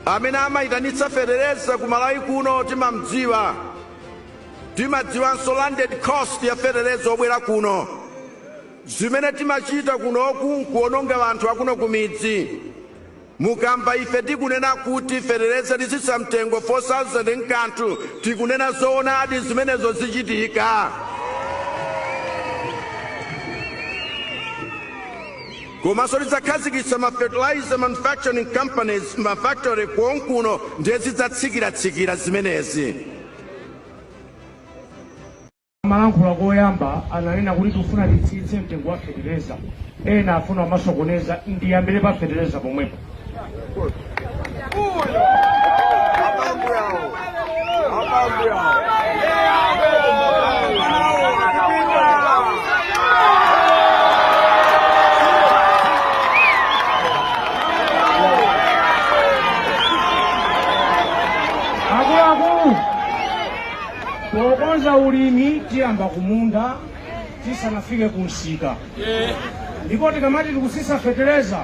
amene amayitanitsa fetereza ku malawi kuno timamdziwa timadziwanso landed cost ya fetereza obwera kuno zimene timachita kunoku nkuononga anthu akuno kumidzi mukamba ife tikunena kuti fetereza litsitsa mtengo 4000 nkanthu tikunena zoonadi zimenezo zichitika komanso tidzakhazikitsa ma fertilizer manufacturing companies ma factory konkuno ndiye zidzatsikiratsikira zimenezi. Amalankhula koyamba ananena kuti tifuna titsitse mtengo wa fetereza, ena afuna kumasokoneza. Ndiyambire pa fetereza pomwepo. akuluakulu tikonza ulimi tiyamba kumunda tisanafike kumsika ndipo tikamati tikutsitsa fetereza